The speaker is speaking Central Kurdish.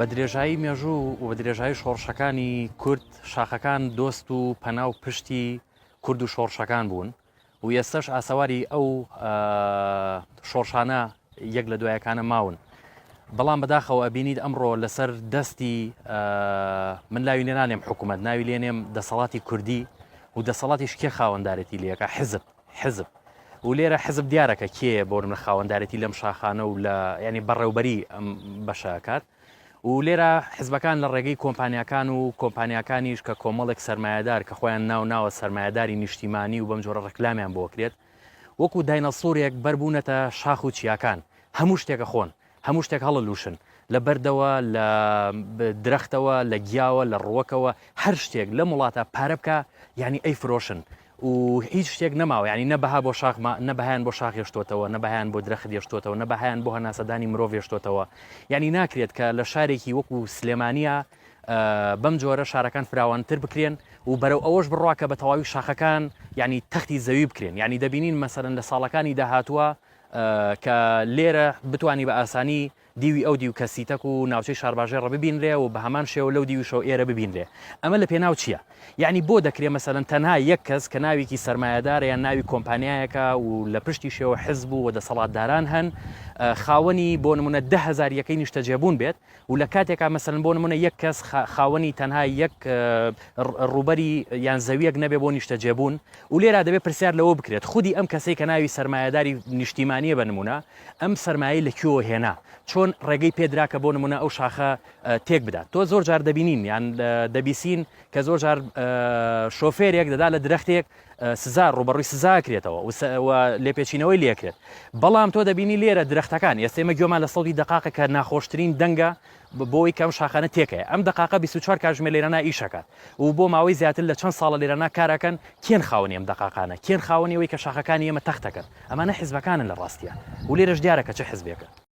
بە درێژایی مێژوو و بە درێژایی شۆڕشەکانی کورد شاخەکان دۆست و پەنا و پشتی کورد و شۆڕشەکان بوون و ئێستش ئاسەواری ئەو شۆڕشانە یەک لە دوایەکانە ماون بەڵام بەداخەوە ئەبینیت ئەمڕۆ لەسەر دەستی من لاوی لێنانێم حکوومەت ناوی لێنێم دەسەڵاتی کوردی و دەسەڵاتی شکێ خاوەندارێتی لەکە حزب حزب و لێرە حزب دیارە کە کێیە بۆ منە خاوەندارێتی لەم شاخانە و لە ینی بەڕێوبەری ئەم بەشەکات و لێرە حزبەکان لە ڕێگەی کۆمپانیەکان و کۆمپانیەکانیش کە کۆمەڵێک سرمایهدار کە خۆیان ناو ناوە سرمایهداری نیشتیمانی و بەم جۆرە ڕکلامیان بۆکرێت وەکو داینەسۆرێک بەربوونەتە شاخ و چیاکان هەموو شتێکە خۆن هەموو شتێک هەڵە لووشن، لە بەردەوە، لە درەختەوە، لە گیاوە، لە ڕووەکەوە، هەر شتێک لەم وڵاتە پارە بکا یانی ئەیفرۆشن و هیچ شتێک نەماوە، یانی نە بەها بۆ شاخ ما، نە بەهایان بۆ شاخ هێشتۆتەوە، نە بەهایان بۆ درەخت هێشتۆتەوە، نە بەهایان بۆ هەناسەدانی مرۆڤ هێشتۆتەوە، یانی ناکرێت کە لە شارێکی وەکو سلێمانییا بەم جۆرە شارەکان فراوانتر بکرێن و بەرەو ئەوەش بڕوا کە بە تەواوی شاخەکان یانی تەختی زەوی بکرێن، یانی دەبینین مەسەلەن لە ساڵەکانی داهاتووە، کە لێرە بتوانی بە ئاسانی دیوی ئەو دیو کەسیتەک و ناوچەی شارباژێڕە ببینرێ و بە هەمان شێوە لەو دیویشەوە ئێرە ببینرێ ئەمە لە پێناو چییە یعنی بۆ دەکرێ مەسەلەن تەنها یەک کەس کە ناوێکی سەرمایەدارە یان ناوی کۆمپانیایەکە و لە پشتی شێوە حزب و دەسەڵاتداران هەن خاوەنی بۆ نمونە دە هەزار یەکەی نیشتەجێبوون بێت و لە کاتێکا مەسەلەن بۆ نمونە یەک کەس خاوەنی تەنها یەک ڕوبەری یان زەویەک نەبێ بۆ نیشتەجێبوون و لێرا دەبێت پرسیار لەوە بکرێت خودی ئەم کەسەی کە ناوی سرمایهداری نیشتیمانیە بە نمونە ئەم سرمایە لە کوێوە هێنا چۆن ڕێگەی پێدرا کە بۆ نمونە ئەو شاخە تێک بدات تۆ زۆر جار دەبینین یان دەبیسین کە زۆر جار شۆفێرێک دەدا لە درەختێک سزا ڕووبەڕووی سزا ئەکرێتەوە و لێپێچینەوەی لێ ئەکرێت. بەڵام تۆ دەبینی لێرە درەختەکان، ئێستە ئێمە گوێمان لە سەوتی دەقاقە کە ناخۆشترین دەنگە بۆ ئەوەی کە ئەم شاخانە تێکەیە. ئەم دەقاقە بیست و چوار کاتژمێر لێرەنا ئیش ئەکات و بۆ ماوەی زیاتر لە چەند ساڵە لێرەنا کار ئەکەن. کێن خاوەنی ئەم دەقاقانە؟ کێن خاوەنی ئەوەی کە شاخەکانی ئێمە تەخت ئەکەن؟ ئەمانە حیزبەکانن لە ڕاستیا و لێرەش دیارە کە چ حیزبێکە.